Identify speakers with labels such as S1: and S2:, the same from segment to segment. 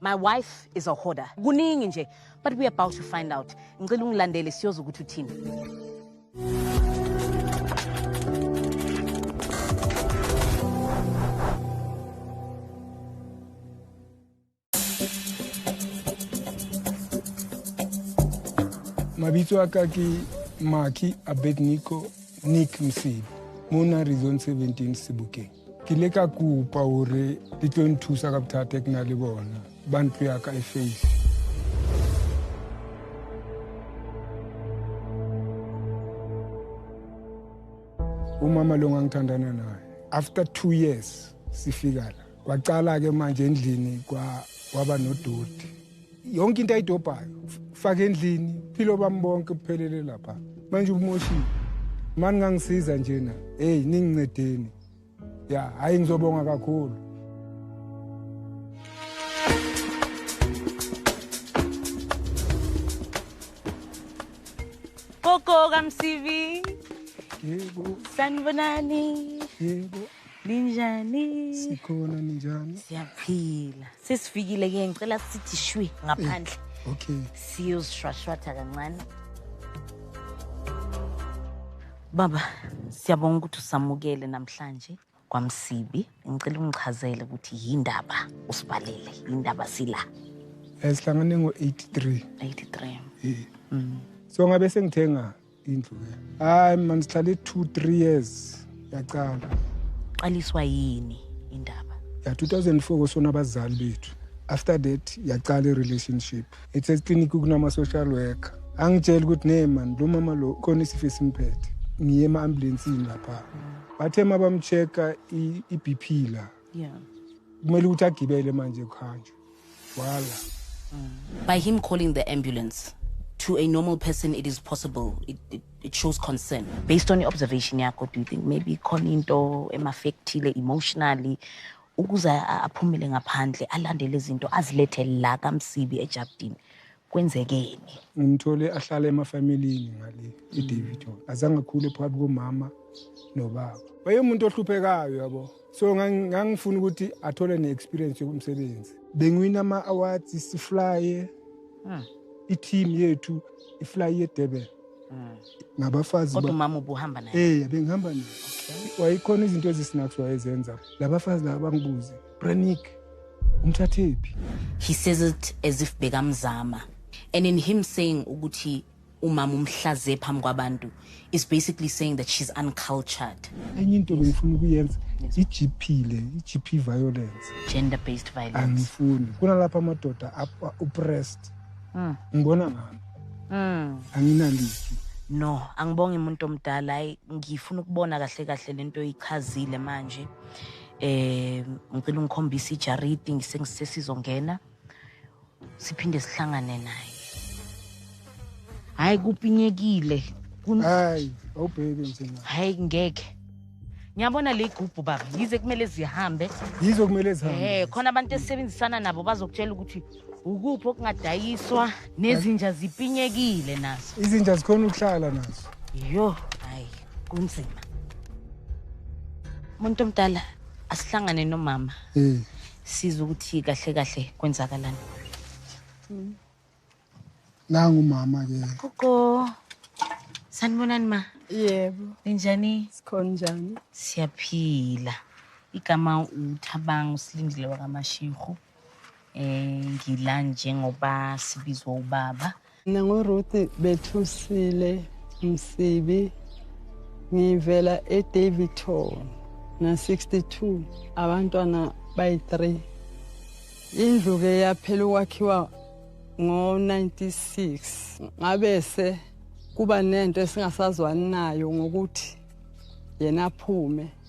S1: My wife is a hoarder. Kuningi nje, but we about to find out. Ngicela ungilandele siyoza ukuthi uthini.
S2: Mabitso a ka ke Maki Abednico Nick Msibi, mo na Rizon 17 Sebokeng. ke ile ka kopa gore di tlo nthusa ka bothata ke na le bona ba ntlo ya ka e face umama lo ngangithandana naye after two years sifika la kwacala-ke manje endlini kwaba nodoti yonke into ayidobhayo faka endlini philo bami bonke kuphelele lapha manje umoshile mani ngangisiza njena heyi ningincedeni ya hhayi ngizobonga kakhulu
S1: Koko kamsivi. Yebo.
S2: Sanibonani.
S1: Yebo.
S2: Ninjani?
S1: Sikhona
S2: ninjani? Siyaphila.
S1: Sesifikile ke ngicela sithi shwi ngaphandle. Eh, okay.
S2: Siyozishwashwatha
S1: kancane. Baba, siyabonga ukuthi usamukele namhlanje kwamsibi. Ngicela ungichazele ukuthi yindaba usibalele, yindaba sila. Eh sihlangane
S2: ngo-83. 83. Eh.
S1: Mm.
S2: So ngabe sengithenga indlu ke hayi mani sihlale 2 3 years yacala qaliswa
S1: yini indaba ya 2004
S2: kosona abazali bethu after that yacala i-relationship ethe eclinic kunama-social worker angitshela ukuthi ne mani lo mama lo khona isifo esimphethe ngiye ema-ambulensini lapha bathe uma bamcheck-a i-b p la
S1: yeah kumele ukuthi
S2: agibele manje kuhanjwe wala mm.
S3: by him calling the ambulance to a normal person it is possible it, it, it shows concern based on your observation
S1: yakho do you think maybe khona into emaffectile emotionally ukuze aphumele ngaphandle alandele izinto azilethe la kamsibi ejabdini kwenzekeni. Ngimthole
S2: ahlala emafamilini ngale iDavid mm. azange akhule phakathi komama nobaba. Wayemuntu ohluphekayo yabo. So ngangifuna ukuthi athole ne-experience yokumsebenzi. Bengiwina ama-awards siflaye. Hmm. I-team yethu iflaye yeDurban. Hmm. ngabafazi kodwa umama ubuhamba
S1: naye eh bengihamba naye
S2: wayikhona izinto ezisinaks wayezenza labafazi laba bangibuze Brenick umthathephi he says
S3: it as if bekamzama and in him saying ukuthi umama umhlaze phambi kwabantu is basically saying that she's uncultured enye into bengifuna
S2: ukuyenza i-gp le i-gp violence gender based violence
S1: angifuni kunalapho
S2: amadoda upressed mm. ngibona ngami mm. anginaliki no
S1: angibongi umuntu omdala hayi ngifuna ukubona kahle kahle lento ichazile manje eh ngicela ungikhombise ijaridi ngisesizongena siphinde sihlangane naye hayi kupinyekile hayi
S2: awubheki mthina hayi ngeke
S1: ngiyabona le gubhu baba yize kumele zihambe yize kumele zihambe
S2: eh khona abantu esebenzisana
S1: nabo bazokutshela ukuthi ukuphi okungadayiswa nezinja zipinyekile nazo izinja zikhona ukuhlala
S2: nazo yo
S1: kunzima umuntu omdala asihlangane nomama mm. siza ukuthi kahle kahle kwenzakalani mm.
S2: nangu mama ke gogo
S1: sanibonani ma yebo ninjani sikhona njani
S4: siyaphila
S1: igama uthabanga usilindile wakamashihu eh ngila njengoba sibizwa ubaba mina nguruth
S4: bethusile msibi ngivela edavidton na-62 abantwana bayi-3 indlu-ke yaphela ukwakhiwa ngo-96 ngabese kuba nento esingasazwani nayo ngokuthi yena aphume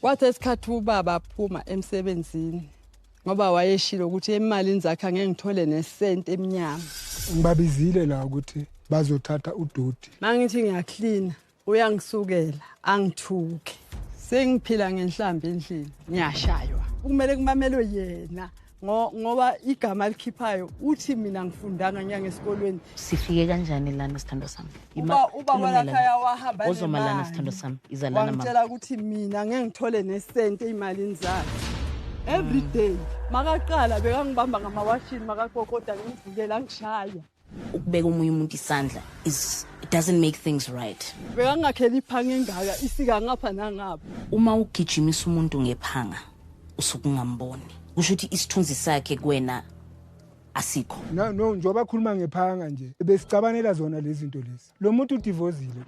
S4: Kwathe isikhathi ubaba aphuma emsebenzini ngoba wayeshilo ukuthi emalini zakhe angeke ngithole nesenti emnyama. Ngibabizile
S2: la ukuthi bazothatha udoti. Mangithi ngiyaklina
S4: uyangisukela angithuke. Sengiphila ngenhlamba endlini ngiyashaywa. Kumele kumamelwe yena. ngoba igama alikhiphayo uthi mina ngifundanga nyanga esikolweni sifike kanjani
S3: lana sithando sami uba walakhaya
S4: wahamba ozoma lana sithando sami
S3: iza lana wangitshela ukuthi mina
S4: ngeke ngithole nesente imalini zakhe every day makaqala bekangibamba ngamawashini makakokoda ngimvulela ngishaya ukubeka omunye
S3: umuntu isandla is it doesn't make things right bekangakheli iphanga
S4: engaka isika ngapha nangapha uma ugijimisa
S3: umuntu ngephanga usukungamboni kusho ukuthi isithunzi sakhe kuwena asikho no no njengoba
S2: khuluma ngephanga nje besicabanela zona lezi zinto lezi lo muntu udivozile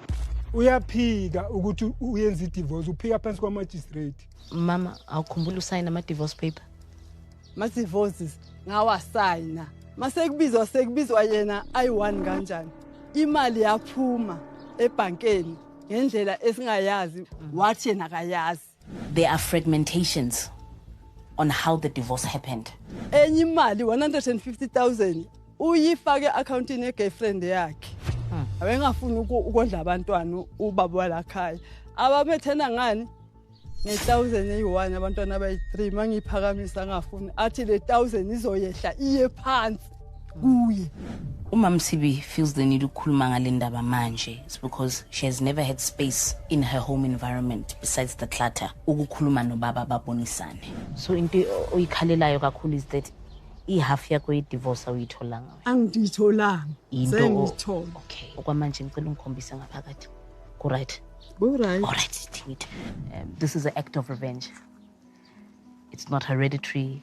S2: uyaphika ukuthi uyenza idivorce uphika phansi kwamagistrate mama
S3: awukhumbula usayina ama-divorce paper ama-divorces
S4: ngawasayina masekubizwa sekubizwa yena ayi-one kanjani imali yaphuma ebhankeni ngendlela esingayazi wathi yena akayazi There are
S3: fragmentations on how the divorce happened. Enye imali
S4: 150,000 uyifake accountini ye girlfriend yakhe. Hmm. Abengafuni ukondla abantwana ubaba walakhaya. Abamethena ngani? nge-thousand eyi-one abantwana abayi-three uma ngiyiphakamisa angafuni athi le thousand izoyehla iye phansi kuye Uma Msibi
S3: feels the need ukukhuluma ngale ndaba manje it's because she has never had space in her home environment besides the clutter ukukhuluma nobaba babonisane. So into oyikhalelayo kakhulu is that ihalf yakho ye-divorce awuyitholanga wena. angiditholanga
S4: Into o- sengithola Okay. Okwamanje
S3: ngicela ungikhombise ngaphakathi. Ku right. Alright. All right,
S4: Timit.
S3: Um, this is an act of revenge. It's not hereditary.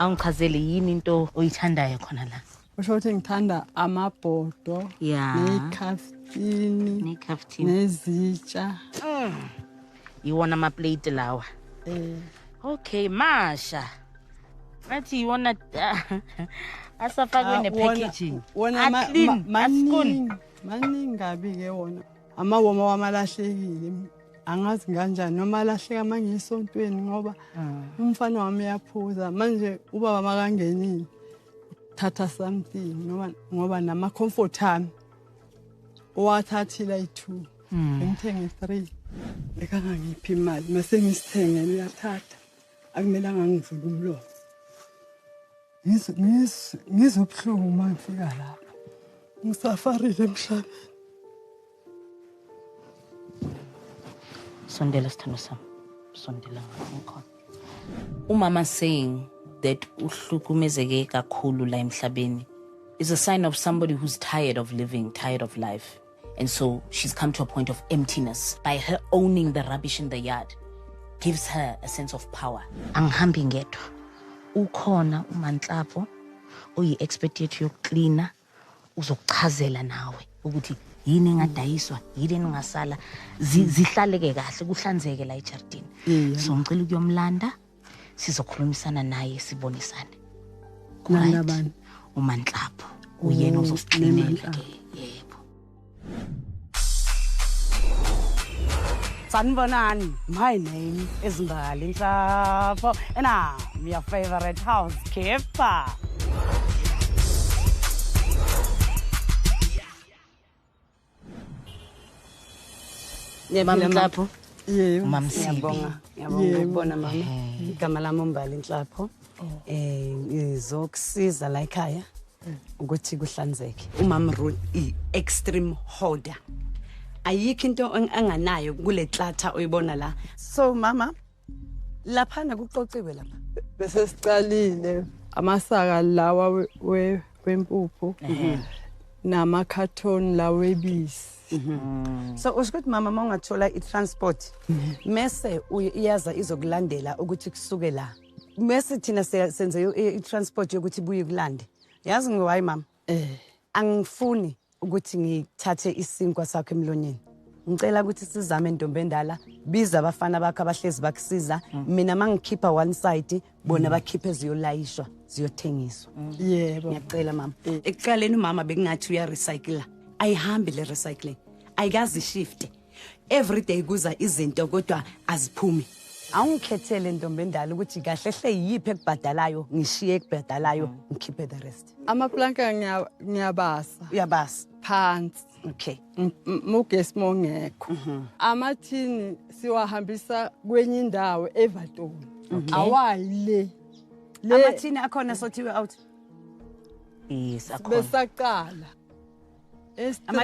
S3: awungichazele yini into oyithandayo khona la usho ukuthi ngithanda
S4: amabhodo ya nekhafini nekhafini nezitsha mm.
S3: iwona amaplate lawa mm. okay masha athi iwona asafakwe ah, ne-packaging aclean
S4: maningi maningi kabi-ke wona amawoma wamalahlekile angazi kanjani noma alahleka manje esontweni ngoba ah. umfana wami uyaphuza manje ubaba makangenile thatha something ngoba nama-comfort ami owathathile ayi-two Hmm. ngithenge three bekangangiphi imali mase ngisithengele uyathatha akumelanga ngivule umlomo ngizwe ubuhlungu uma ngifika lapho ngisafarile emhlabeni
S3: sondela sithando sami sondela ngikhona umama saying that uhlukumezeke kakhulu la emhlabeni is a sign of somebody who's tired of living tired of life And so she's come to a point of emptiness by her owning the rubbish in the yard gives her a sense of power. Angihambi ngedwa. Ukhona uManhlapho oyi-expert yethu yokuklina uzokuchazela nawe ukuthi yini engadayiswa yini eningasala zihlaleke kahle kuhlanzeke la ejardini so ngicela ukuyomlanda sizokhulumisana naye sibonisane kunabani
S4: umanhlapho
S3: uyena oh, uzosixinela ke yebo
S5: sanibonani my name is mbali nhlapho and i'm your favorite housekeeper
S3: Ngiyabonga Nhlapho. Yebo. Mama
S4: Sibi. Ngiyabonga.
S3: Ngiyabonga
S5: ukubona mama. Igama lami uMbali Nhlapho. Oh. Eh ngizokusiza la ekhaya mm. ukuthi kuhlanzeke. Umama Ruth i extreme hoarder. Ayikho into anganayo kule klatha oyibona la. So mama laphana kuxoxiwe lapha bese siqalile
S4: amasaka lawa wempuphu namakhathoni lawa ebisi Mm. so
S5: usho ukuthi mama uma ungathola i-transport mese iyaza izokulandela ukuthi kusuke la mese thina senze i-transport yokuthi buye kulande yazi ngiwayi mama Eh. Angifuni ukuthi ngithathe isinkwa sakho emlonyeni. Ngicela ukuthi sizame ntombi endala, biza abafana bakho abahlezi bakusiza, mm. mina mangikhipha one side, bona mm. bakhiphe ziyolayishwa, ziyothengiswa. Mm. Yebo. Ngiyacela
S4: mama. Eh.
S5: Ekuqaleni umama bekungathi uya recycler. Ayihambi le recycling. Ayikazi shift. everyday kuza izinto kodwa aziphumi awungikhethele ntombi endala ukuthi kahle hle yiphi ekubhadalayo ngishiye ekubhadalayo mm. ngikhiphe the rest amaplanka
S4: ngiyabasa uyabasa
S5: phansi
S4: okay
S5: mugesi
S4: mongekho mhm. amathini siwahambisa kwenye indawo evatoni awayi le
S5: amathini akhona sothiwe out yes
S3: akhona besaqala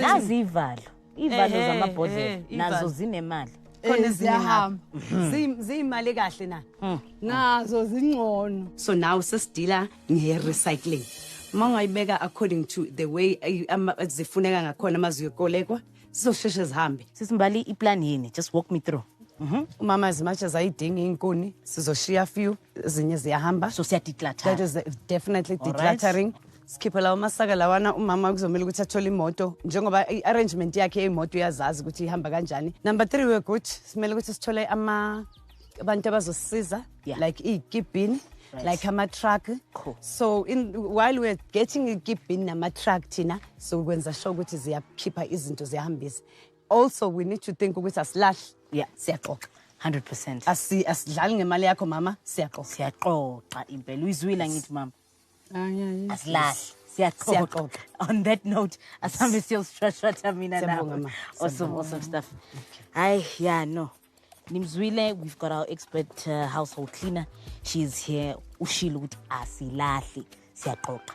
S3: nazi ivalo ivalo zamabhodlela nazo zinemali khona ziyahamba
S5: mhm. ziyimali kahle na mm. nazo
S4: zingcono so now sesidila
S5: nge-recycling uma ungayibeka according to the way zifuneka ngakhona uma ziyokolekwa sizosheshe zihambe sisimbali iplan
S3: yini just walk me through mhm. umama as
S5: much as ayidingi iy'nkuni sizoshiya few ezinye ziyahamba so siyadeclatter that
S3: is definitely
S5: declattering right. sikhiphe lawo masaka lawana umama kuzomele ukuthi athole imoto njengoba i-arrangement yakhe yemoto uyazazi ukuthi ihamba kanjani number three we're good simele ukuthi sithole ama abantu abazosisiza yeah. like iy'kibhini Right. like ama-truck cool. so in, while we're getting ikibhini nama-truck thina so kwenza sure ukuthi ziyakhipha izinto ziyahambisa also we need to think ukuthi asilahle yeah. siyaxoxa 100 percent
S3: asidlali
S5: ngemali yakho mama siyaxoxa siyaxoxa
S3: impela uyizwile angithi mama
S4: asilahle
S3: siyaxoxoxa on that note asihambe siyostrashratha mina nawe awesome awesome stuff hayi ya no nimzwile we've got our expert uh, household cleaner she is here ushilo ukuthi asilahle siyaxoxa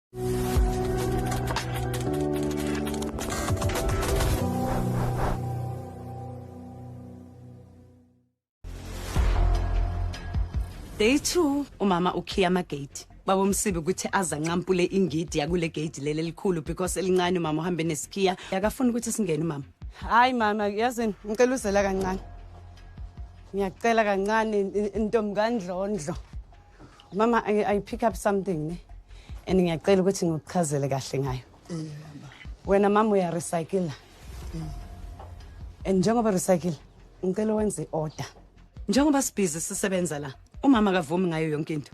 S5: Day 2 umama ukhiya amagate baba umsibe ukuthi azancampule ingidi yakule gate leli elikhulu because elincane umama uhambe nesikhiya yakafuna ukuthi singene umama hayi mama yazini ngicela uzela kancane ngiyacela kancane intombi kandlondlo mama I, i pick up something ne and ngiyacela ukuthi ngikuchazele kahle ngayo wena mama uyarecycla and njengoba recycle ngicela wenze order njengoba sibhizi sisebenza la umama kavumi ngayo yonke into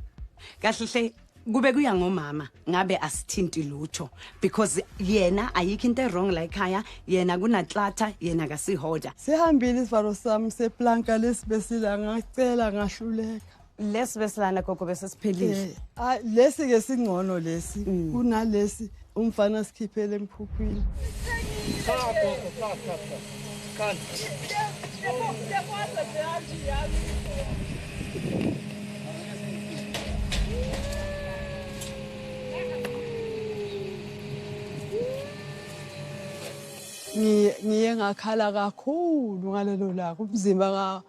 S5: kahle hle kube kuya ngomama ngabe asithinti lutho because yena ayikho into ewrong la ekhaya yena kunatlatha yena kasihoda sihambile isivalo
S4: sami seplanka lesibesila ngacela ngahluleka lesi besilana
S5: gogo besesiphelile eh, ah, lesi ke
S4: singcono lesi mm. kunalesi umfana sikhiphele emphuphwini ngiye ngakhala kakhulu ngalelo laka umzimba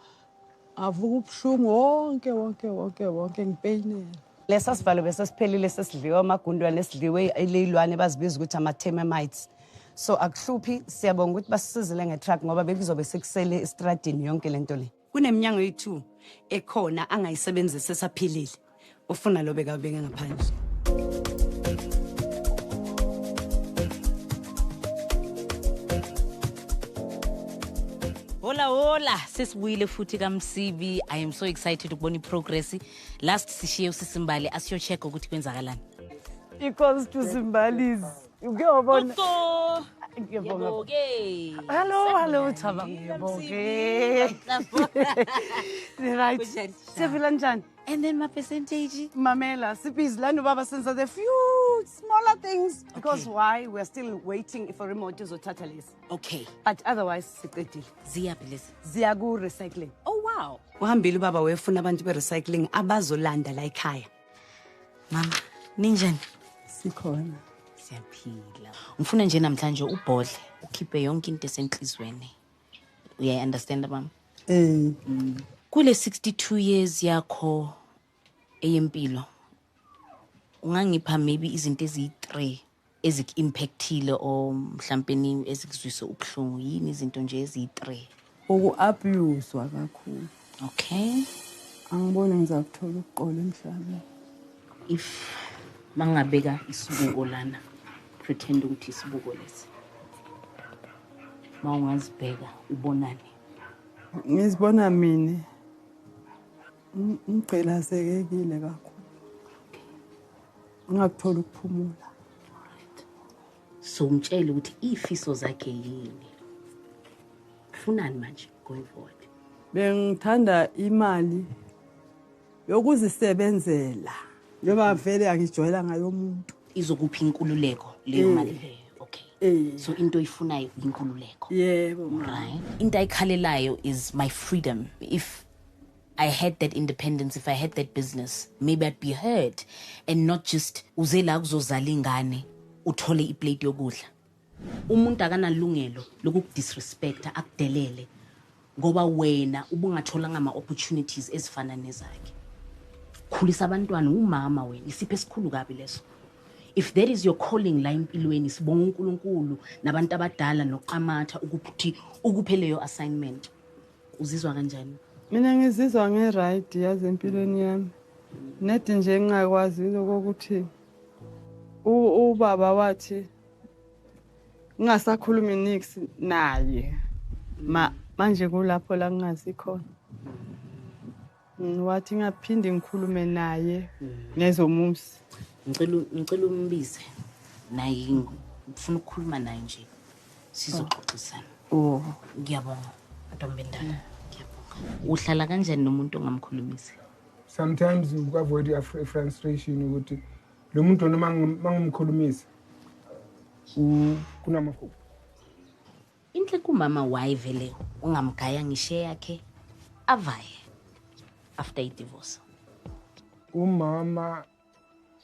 S4: Avuka ubuhlungu wonke wonke wonke wonke ngipeyinela. Lesa sivalo
S5: bese siphelile sesidliwa amagundwane esidliwe ileyilwane bazibiza ukuthi ama-termites. So akuhluphi siyabonga ukuthi basisizile nge-truck ngoba bekuzobe sekusele estradini yonke lento le. Kuneminyango eyi-2 ekhona angayisebenzisa esaphilile. ufuna lo bekabeke ngaphandle
S3: Hola hola sesibuyile futhi kaMsibi I am so excited ukubona iprogress last sishiye usisimbali asiyo check ukuthi kwenzakalani Icons
S5: to Simbalis uke wabona
S3: Ngiyabonga. Ngiyabonga.
S5: Hello, hello, Thaba ngiyabonga. Right. Kunjani? Siyaphila njani? And then my percentage.
S3: Mamela, sibhizi
S5: lana ubaba senza the few smaller things because okay. why we are still waiting for imoto izothatha lesi. Okay. But
S3: otherwise
S5: siqedile. Ziyaphi lesi?
S3: Ziya ku recycling.
S5: Oh wow.
S3: Uhambile ubaba wefuna
S5: abantu be recycling abazolanda la ekhaya. Mama,
S3: ninjani? Sikhona.
S4: Siyaphila.
S3: Ngifuna nje namhlanje ubhodle ukhiphe yonke into esenhlizweni. uyayi-understanda mama um mm. kule 62 years yakho eyempilo ungangipha maybe izinto eziyi-three eziku-impactile or mhlampe ezikuzwise ubuhlungu yini izinto nje eziyi-three uku-abuswa
S4: kakhulu Okay.
S3: Angiboni
S4: ngizakuthola ukuqola emhlabeni. If
S3: mangabeka isibuko lana pretend ukuthi isibuko lesi. Mawungazibheka ubonani?
S4: Ngizibona mina. Ngigqilazekekile kakhulu. Ngingakuthola ukuphumula.
S3: somtshela ukuthi ifiso zakhe yini funani manje going forward bengithanda
S4: imali yokuzisebenzela njengoba vele angijwayela ngayo umuntu izokuphi inkululeko
S3: leyo eh. mali leyo okay eh. so into oyifunayo inkululeko yebo
S4: right into
S3: ayikhalelayo is my freedom if I had that independence, if I had that business, maybe I'd be heard and not just uze la kuzozala ingane uthole iplate yokudla. Umuntu akanalungelo lokukudisrespecta akudelele ngoba wena ubungatholanga ama opportunities ezifana nezakhe. Khulisa abantwana umama wena isiphe esikhulu kabi leso. If that is your calling la empilweni sibonga uNkulunkulu nabantu abadala noqamatha ukuthi ukupheleyo assignment. uzizwa kanjani mina ngizizwa
S4: ngi-right yazi empilweni yami nedi nje ngingakwazi lokokuthi ubaba wathi ngingasakhulumi nix naye ma manje kulapho la ngingazi khona Wathi ngaphinde ngikhulume naye ngezomuzi. Ngicela
S3: ngicela umbize naye ngifuna ukukhuluma naye nje. Sizoxoxisana. Oh, ngiyabonga. Ntombi endala. Ngiyabonga. Uhlala kanjani nomuntu ongamkhulumisi? Sometimes
S2: uavoid your frustration ukuthi lo muntu noma mangimkhulumisa kunamafuphi.
S3: Inhle kumama why vele ungamgaya ngishe yakhe avaye after idivorce.
S2: Umama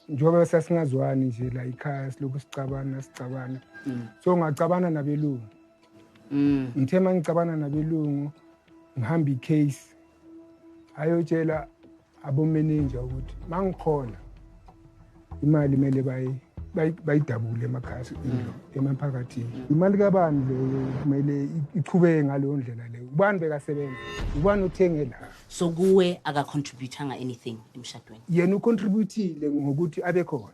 S2: njengoba sasingazwani nje la ikhaya silokhu sicabana sicabana mm. so ngacabana nabelungu mm. ngithe uma ngicabana nabelungu ngihamba icase ayotshela abomeninja ukuthi mangikhona imali kumele bayidabule emakhaya mm. emaphakathini mm. imali kabani leyo kumele iqhubeke ngaleyo ndlela leyo ubani bekasebenza ubani othenge la so kuwe
S3: akacontributanga anything emshadweni yena ucontributile
S2: ngokuthi abe khona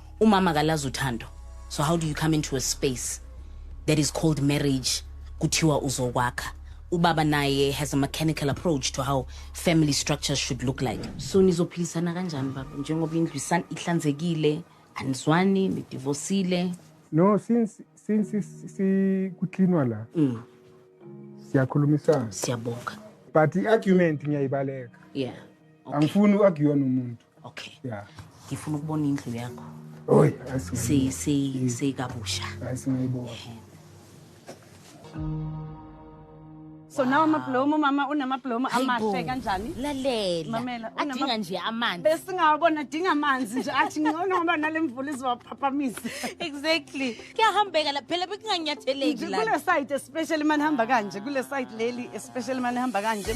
S3: umama kalazi uthando so how do you come into a space that is called marriage kuthiwa uzokwakha ubaba naye has a mechanical approach to how family structures should look like so nizophilisana kanjani baba njengoba indlu isan- ihlanzekile anizwani nidivosile no since
S2: since si- si- kucleanwa la Mm. siyakhulumisana siyabonga but
S3: i-argument
S2: ngiyayibaleka
S3: yeah
S2: angifuni u-arguwa
S3: nomuntu okay yeah ngifuna
S2: ukubona indlu
S3: yakho
S2: oy si si si
S3: kabusha
S2: ayisingayibona
S5: So nawo amablomu mama unamablomu amahle kanjani? Lalela.
S3: Adinga nje
S5: amanzi.
S3: Besingawabona dinga
S5: amanzi nje athi ngcono ngoba nalemvula izowaphaphamisa. Exactly.
S3: Kuyahambeka la phela bekunganyatheleki la. Kule site especially
S5: manihamba kanje kule site leli especially manihamba kanje.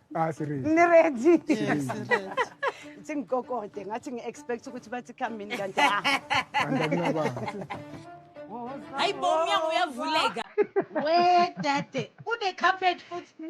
S5: Ah, niready singikokode ngathi ngi-expect ukuthi bathi khambini kanti ah.
S3: hayi bo umnyango uyavuleka we
S6: dade une-carpet futhi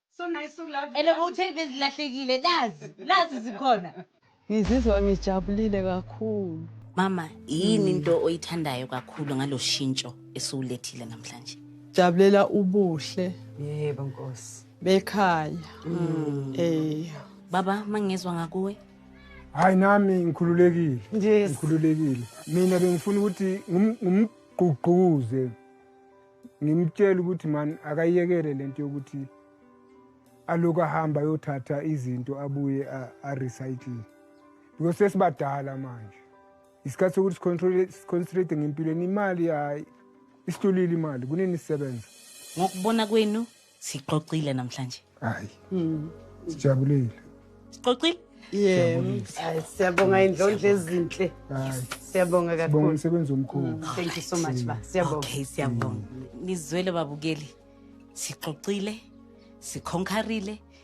S6: So nice
S3: so lovely. Ene bowutheni bezilahlekile nazi nazi zikhona. Ngizizwa
S4: ngijabulile kakhulu. Mama
S3: yini into oyithandayo kakhulu ngaloshintsho esiwulethile namhlanje? Jabulela
S4: ubuhle. Yebo Nkosi.
S5: Bekhaya.
S4: Mm. Eh.
S3: Baba mangizwa ngakuwe. Hayi
S2: nami ngikhululekile. Yes. Ngikhululekile. Mina bengifuna ukuthi ngumgqugquze ngimtshela ukuthi mani akayekele le nto yokuthi aloku ahamba ayothatha izinto abuye arecycle because sesibadala manje isikhathi sokuthi siconcentrate ngempilweni imali hayi isihlulile imali kunini sisebenza ngokubona
S3: kwenu Sixoxile namhlanje. Hayi.
S2: Mm. Sijabulile.
S3: Sixoxile? Yeah.
S4: Siyabonga
S5: indlondla ezinhle. Siyabonga kakhulu. Sibonga umsebenzi
S2: omkhulu. Mm,
S5: thank
S2: you so much ba.
S5: Siyabonga. Okay, siyabonga. Mm.
S3: Nizwele babukeli. Sixoxile. Sikhonkarile.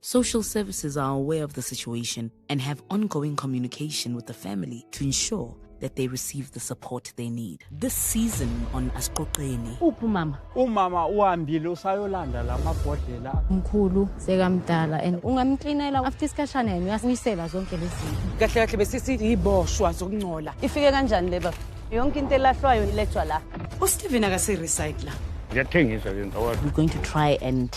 S3: Social services are aware of the situation and have ongoing communication with the family to ensure that they receive the support they need. This season on Asqoqeni. Uphi mama?
S1: Umama uhambile
S7: usayolanda lamabhodlela. Mkhulu
S1: sekamdala and ungamklinela after isikhashana yena uyasuyisela zonke lezi zinto. Kahle kahle besisithi
S5: yiboshwa zokungcola. Ifike kanjani le baba? Yonke into elahlwayo ilethwa la. USteven akase recycler. We're
S7: going to try
S3: and